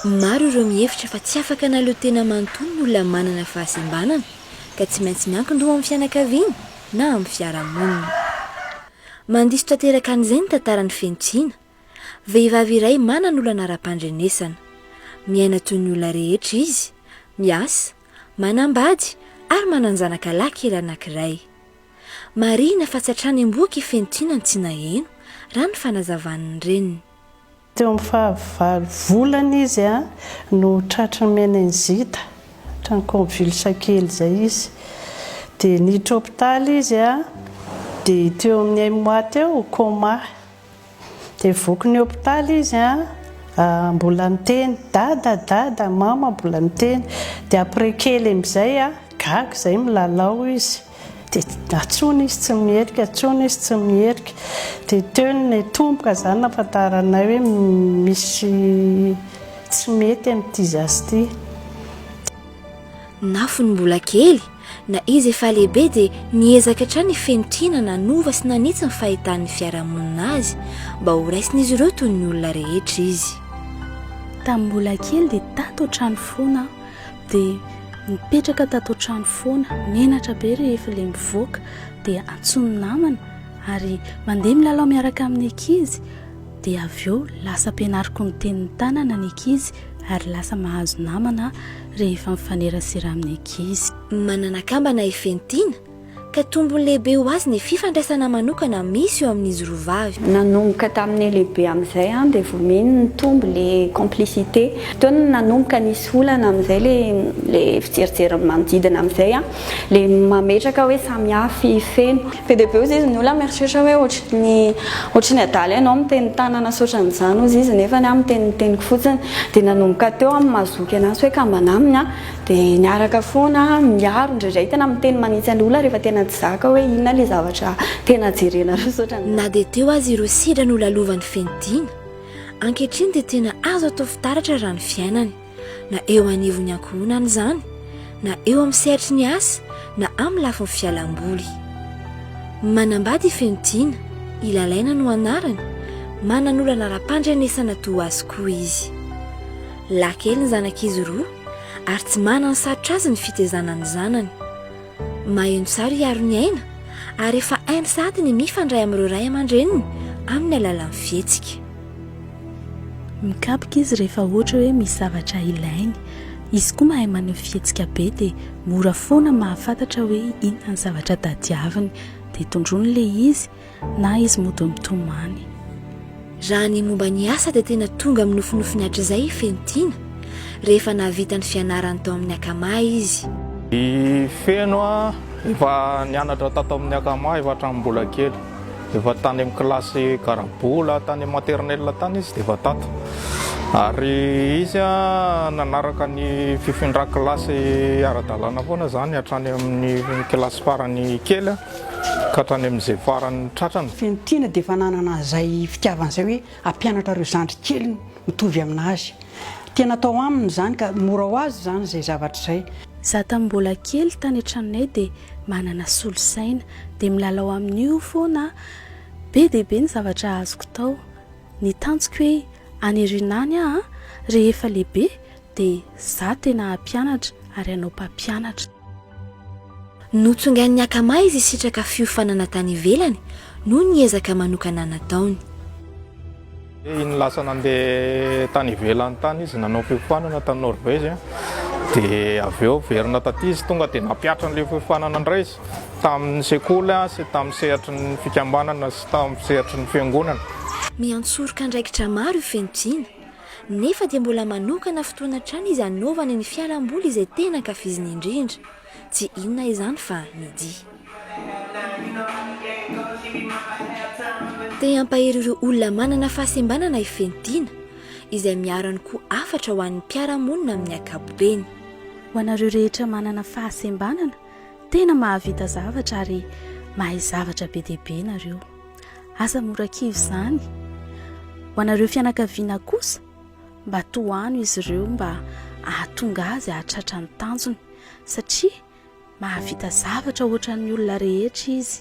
Maro ireo mihevitra fa tsy afaka hanaleo tena manontolo ny olona manana fahasembanana, ka tsy maintsy miankin-doha amin'ny fianakaviany na amin'ny fiarahamonina. Mandiso tanteraka an'izay ny tantaran'i Fenitsiana, vehivavy iray manana olana ara-pandrenesana. Miaina toy ny olona rehetra izy, miasa, manambady ary manan-janaka lahy kely anankiray. Marihina fa tsy hatrany am-bohoka i Fentina no tsy naheno, raha ny fanazavan'ny reniny. Teo amin'ny fahavalo volana izy no tratry ny meningite, ohatran'ny convulse kely izay izy. Dia niditra hopitaly izy, dia teo amin'ny un mois teo, coma. Dia voky ny hopitaly izy an, mbola niteny dada dada, mama mbola niteny, dia après kely amizay an, gaga izay milalao izy, dia atsony izy tsy mierika, atsony izy tsy mierika, dia teo ny tomboka izany nafantaranay hoe misy tsy mety amin'ity zaza ity. Nafony mbola kely, Na izy efa lehibe dia niezaka hatrany i Fentina nanova sy nanitsy ny fahitan'ny fiarahamonina azy mba ho raisin'izy ireo toy ny olona rehetra izy. Tamin'ny mbola kely dia tato an-trano foana aho, dia nipetraka tato an-trano foana, menatra be rehefa ilay mivoaka dia antsoin'ny namana ary mandeha milalao miaraka amin'ny ankizy, Dia avy eo lasa ampianariko ny tenin'ny tanana ny ankizy ary lasa mahazo namana rehefa mifanerasera amin'ny ankizy. Manana akambana i Fentina, ka tombony lehibe ho azy ny fifandraisana manokana misy eo amin'izy roa vavy. Nanomboka tamin'ny lehibe amin'izay an, dia vao mino nitombo ilay complicité. Teo no nanomboka nisy olana amin'izay ilay ilay fijerijery ny manodidina amin'izay an, ilay mametraka hoe samy hafa i Feno. Be dia be ozy izy ny olona mieritreritra hoe ohatry ny ohatry ny adala ianao miteny tanana sy ohatran' izany ozy izy nefany aho miteny ny teniko fotsiny dia nanomboka teo aho mazoky anazy hoe kambana aminy aho dia niaraka foana miaro indraindray tena miteny manitsy ny olona rehefa tena tsy zaka hoe inona ilay zavatra tena jerenareo sy ohatran' Na dia teo aza ireo sedra nolalovany feno dina, ankehitriny dia tena azo atao fitaratra raha ny fiainany. na eo anivon'ny ankohonana izany na eo amin'ny sehatry ny asa na amin'ny lafiny fialamboly. Manambady i Fenotiana, i Lalaina no anarany, manana olana ara-pandrenesana toa azy koa izy. Lahy kely ny zanak'izy roa ary tsy manana sarotra azy ny fitaizana ny zanany. Maheno tsara i Aroniaina ary efa hainy sahady ny mifandray amin'ireo ray aman-dreniny amin'ny alalan'ny fihetsika. Mikapoka izy rehefa ohatra hoe misy zavatra ilainy. Izy koa mahay maneho fihetsika be dia mora foana mahafantatra hoe inona ny zavatra tadiaviny. Dia tondroiny ilay izy Na izy mody mitomany. Raha ny momba ny asa dia tena tonga amin'ny nofinofiny hatrizay i Fenotiana, rehefa nahavita ny fianarany tao amin'ny Akama izy. I Feno efa nianatra tato amin'ny Akama efa hatramin'ny mbola kely. Efa tany amin'ny kilasy garabola tany amin'ny maternelle tany izy dia efa tato. Ary izy nanaraka ny fifindran-kilasy ara-dalàna foana izany hatrany amin'ny kilasy farany kely. Ka hatrany amin'izay farany tratrany. Fentina dia efa nanana an'izay fitiavana izay hoe hampianatra ireo zandry keliny mitovy amin'azy. Tena atao aminy izany ka mora ho azy izany izay zavatra izay. Za tamin'ny mbola kely tany an-tranonay dia manana solosaina dia milalao amin'io foana aho. Be dia be ny zavatra azoko tao. Ny tanjoko hoe any Rinany aho rehefa lehibe dia za tena hampianatra ary hanao mpampianatra. Notsongain'ny Akama izy hisitraka fiofanana tany ivelany noho ny ezaka manokana nataony. Iny lasa nandeha tany ivelany tany izy nanao fiofanana tany Norvège dia avy eo niverina taty izy tonga dia nampihatra an'ilay fiofanana indray izy tamin'ny sekoly sy tamin'ny sehatry ny fikambanana sy tamin'ny sehatry ny fiangonana. Miantsoroka andraikitra maro io feno tiana. Nefa dia mbola manokana fotoana hatrany izy hanaovany ny fialamboly izay tena ankafiziny indrindra. Tsy inona izany fa ny dihy. Te hampahery ireo olona manana fahasembanana i Fentina, izay miharany koa hafatra ho an'ny mpiara-monina amin'ny ankapobeny. Ho anareo rehetra manana fahasembanana, tena mahavita zavatra ary mahay zavatra be dia be nareo. Aza mora kivy izany. Ho anareo fianakaviana kosa, mba tohano izy ireo mba hahatonga azy hahatratra ny tanjony, satria mahavita zavatra hoatran'ny olona rehetra izy.